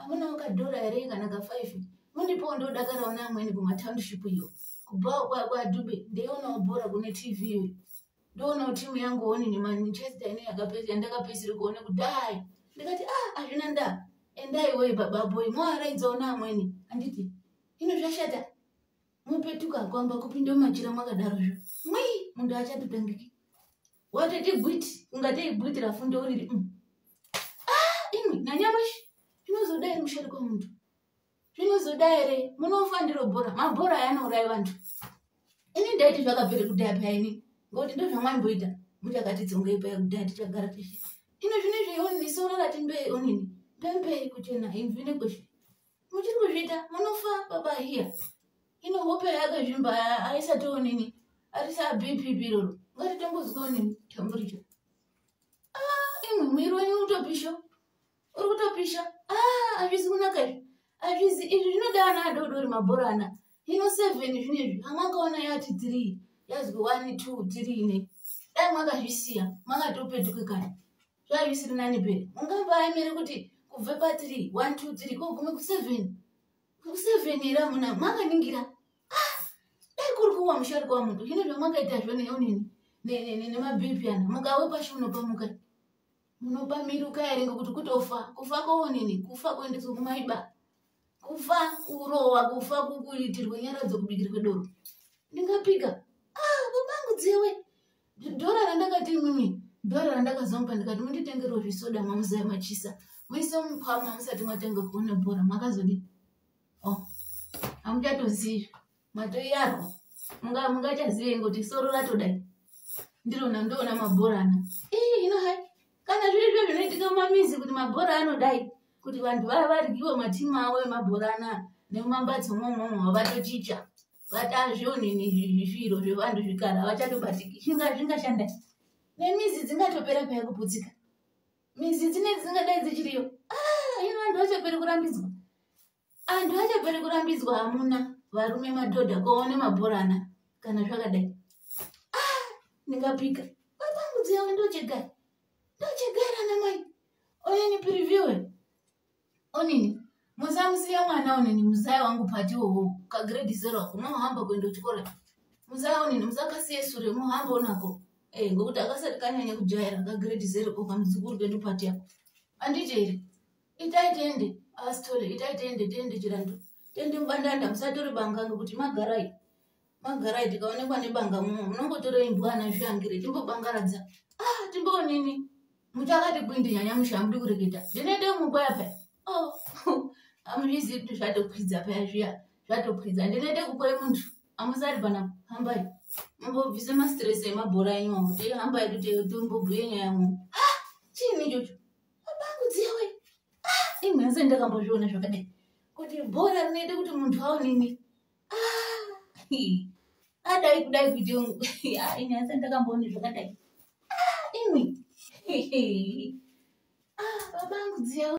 amunawo kadhora here kana kafive mundipowo ndodakarawo neamweni kumatownship iyo kubhawo kwakwadube ndeionawo bhora kune tv iyo ndoonawo timu yangu honi nemanchester ine yandakapedziri kuone kudai ndikati a ah, hazvina nda endai woi bababoi moaraidzawo neamweni handiti ino zvashata mupetuka kwamba kupinda mumachira mwakadaro zvo mwii munhu achatotangiki watoti gwiti ungatei gwiti rafundo uriri mm. ah, imwe nanyamashi zvinozoda iri mushori kwemuntu zvinozoda here munofa ndiro bhora mabhora aya anourai vantu ini ndaiti zvakabvere kudhaya paya ini ngokuti ndo zvamwaimboita muchakati dzongei paya kudhaya tichagara tichi ino zvine zveioni nisoona rati ndoeonini pempei kuchena imvine kweshe muchiri kuzviita munofa baba hiya ino hope yake zvimba aisatoonini arisa bp biroro ngatitombozikonini tamburicho ah, imwe mwiri wenyu utopisho uri kutopisha ah, azvizi kunaka izvi azvizi izvi zvinoda ana adodori mabhora ana ino seven zvinezvi amakaona yati three yazwi one two three ne dai mwakazvisiya makatopetuke kana zvaive isiri nani pere ungamba aimere kuti kubve patiri one two three kogume kuseven kuseven here amuna mwanganingira ah, dai kuri kuwa musharukwa wamuntu hino zvamwakaita zvo neonini nemabhipi ana mukawe pashi munopamuka munopamiruka here ngekuti kutofa kufa koonini kufa kuendeswa kumaiba kufa kurowa kufa kuitirwe nyara dzokubikirwe doro ndingapika ah, babangu dzewe dhora randakati mimi dhora randakazomupa ndikati munditengerwo zvisoda mwamuzaya machisa muise mukwama musati mwatanga kuona bhora makazodii o oh, hamuchatozivi matoi ako mungachazive munga kuti soro ratodai ndirona ndoona mabhora ana ii ino hai kana zviri zve zvinoitika mumamizi kuti mabhora anodai kuti vanhu vaya varyiwe matimu avo emabhora ana nemumambatso momomo havatochicha vatazvionini zviro zvevanhu zvikara havachatobatiki zvinga zvingashanda nemizi dzingatopera paya kuputsika mizi dzinei dzingadai dzichiriyo ah, ino vanhu vachaperi kurambidzwa antu achapere kurambidzwa hamuna varume madhodha koone mabhorana kana zvakadai ah, ndingapika matambudzo yavo ndochegara ndochegara namai onini previewe onini musamusiya mwana onini muzaya wangu pati wowo kagrade zero kunohamba kuenda kuchikora muzaya onini musakasiye sure muhambo nako e ngokuti akasati kanyanya kujaira kagrade zero ko kamuzukuru kedu pati yako anditi here itai tende asitole itai tende tende chirandu tende mbandanda musatore banga ngekuti magarai magarai tikaonekwa nebanga muno munongotore imbwana zviyangire timbobangaradza ah timboonini muchakati kwindi nyanya musha mudi kureketa ndinoite mukwaya paya oh amuzvizi kuti zvatokwidza paya zviya zvatokwidza ndinoite kukwai munhu amusari pana hambai mumbobvise mastress emabhora enyu amu teihambai kuti tombobhuye nyaya mu ah chini chocho Babangu dziwe. Ah, imwe yose ndakambozviona zvakadai. Kuti bhora rinoita kuti muntu aonini. Ah. Adai kudai kuti ah, imwe yose ndakamboona zvakadai. Ah, imwe. Ah, babangu dziwe.